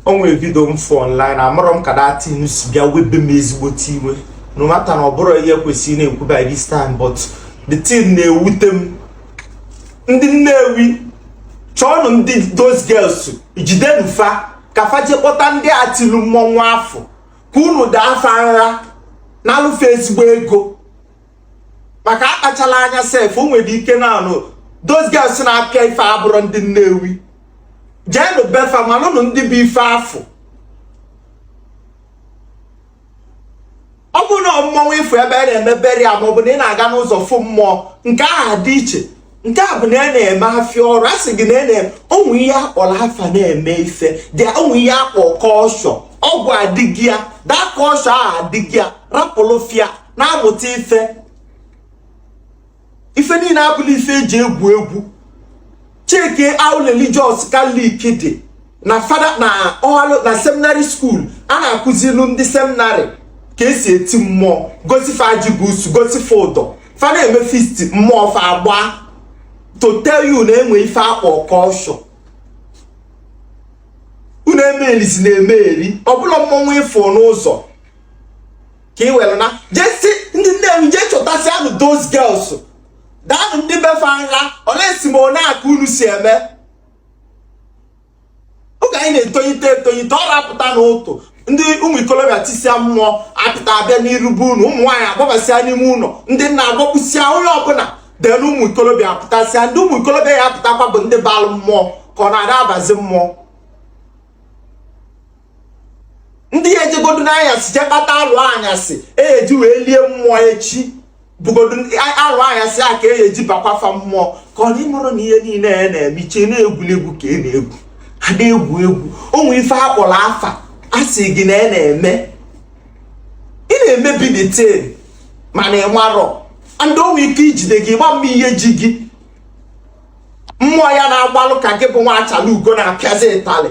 o nwere vidio m fụ online amarọ m ka that thing si bịa webe m ezigbote iwe no matter na ọ bụrọ ihe kwesịrị na-ekwu by this time but the thing na-ewute m ndị nnewi chọọnụ ndị those girls jidenu fa ka fa je kpọta ndị a tilu mmọnwụ afụ ka unu daa fa nra nalụ fa ezigbo ego maka akpachala anya sef o nwere ike na anụ those girls na-apịa ife abụrọ ndị nnewi jeenụ be fa malụnụ ndị bụ ife afụ ọ bụ na mmọnwụ ị fụ ebe a na-eme burial ma ọ bụ na ị na-aga n'ụzọ fụ mmụọ nke ahụ dị iche nke a bụ na a na-eme afịa ọrụ a sị gị na na o nwe ihe a kpọrọ afa na-eme ife dị o nwe ihe a kpọ culture ọgwụ adịghị ya daa culture ahụ adịghị ya rapụlụfịa na-amụta ife ife niile abụla ife eji egwu egwu checkie how religious Catholic dị na fada na ọhalụ na seminary school a na-akụzilu ndị seminary ka e si eti mmụọ gosi fa ajibusu gosi fa ụdọ fa na-eme feast mmụọ fa agba to tell you na e nwe ife a kpọ culture unu emeelizi na-eme eri ọbụla mmọnwụ ị fụ n'ụzọ ka ị were na jesi ndị nnewi jee chọtasịanụ those girls daanụ ndị be fa nha unless ma ọ nya ka unu si eme oge anyị na-etonyite etonyite ọ rapụta n'ụtụtụ ndị ụmụ ikolobịa tisia mmụọ apụta abịa n'iru be unu ụmụ nwaanyị agbabasịa n'ime ụlọ ndị nna agbakpụsịa onye ọbụla then ụmụ ikolobịa apụtasịa ndị ụmụ ikolobịa ya apụtakwa bụ ndị balụ mmụọ ka ọ na-ada abazi mmụọ ndị ya ejegodu n'anyasị je kpata alụ anyasị eji wee lie mmụọ echi bụgodu alụ anyasị a ka e eji bakwafa mmụọ ka ọ n'ịmụrụ na ihe niile ya na-eme iche na-egwuli egwu ka ị e na-egwu a na-egwu egwu o nwe ife a kpọrọ afa a sị gị na ị e na-eme ị na-emebi that thing mana ị marọ ndị nwe ike ijide gị gba mma ihe ji gị mmụọ ya na-agbalụ ka gị bụ nwa achala ugo na-apịazi ịtalị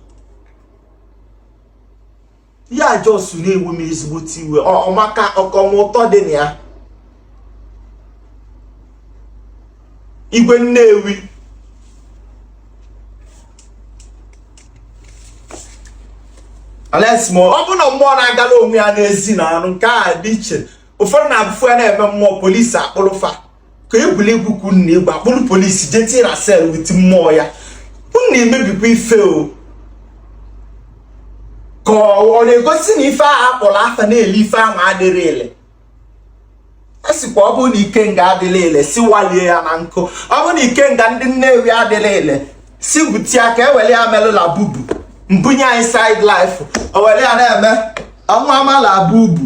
ya just na-ewu m ezigbote iwe ọmaka ọkọmụtọ dị na ya igwe nnewi unless ọ bụ na mmụọ na-agala onwe ya n'ezi na anụ nke a dị iche ụfọdụ na-abụfu ya na-eme mmụọ police akpụrụ fa ka egwuregwu ka unu na-egwu akpụrụ polisi jee tie na cell with mmụọ ya unu na-emebikwa ife o ka ọ na-egosi na ife ahụ akpọrọ afa na-ele ife ahụ adịrọ ile a sịkwa ọ bụrụ na ikenga adịrọ ile si walie ya na nkụ ọ bụrụ na ikenga ndị nnewi adịrọ ile si gwute ya ka e were ya melụ labubu mbunye inside life o were ya na-eme ọnwa ama labubu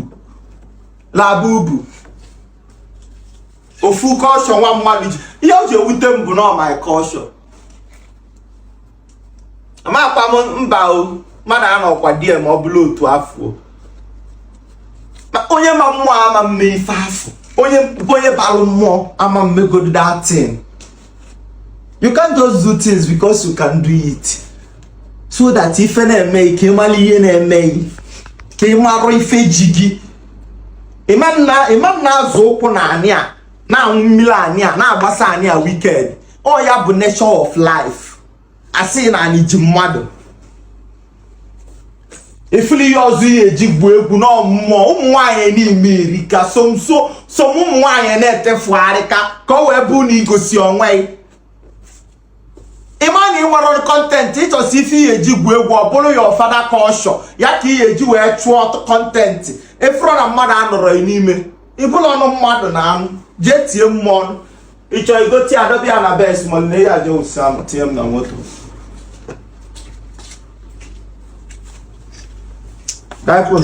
labubu ofu culture nwa mmadụ ji ihe o ji ewute m bụ na my culture amakwa m mba o mmadụ anọkwa di ma ọ bụla otu afọ onye ma mmụọ ama mme ife afọ onye onye balụ mmụọ ama mmegodo that thing you can't just do things because you can do it so that ife na-eme gị ka ị mara ihe na-eme gị ka ị marụ ife ji gị ị ma na-azọ ụkwụ na anị a na-aṅụ mmiri anị a na-agbasa anị a wicked ọ ya bụ nature of life a sị na anị ji mmadụ ị fụlụ ihe ọzọ ihe eji gwuo egwu na ụmụ ụmụ nwaanyị na America some some ụmụ nwaanyị na-etefugharị ka ka o wee bụ na igosi onwe ịma na ị nwere content ịchọsi ife ihe eji gwuo egwu ọ bụrụ your father culture ya ka ihe eji wee chụọ content efuru na mmadụ anọrọ n'ime ịbụla ọnụ mmadụ na anụ jee tie mmụọ ịchọ igote ya dọba ya na bes ma nne ya je ụsa m tinye m na moto Dai pun.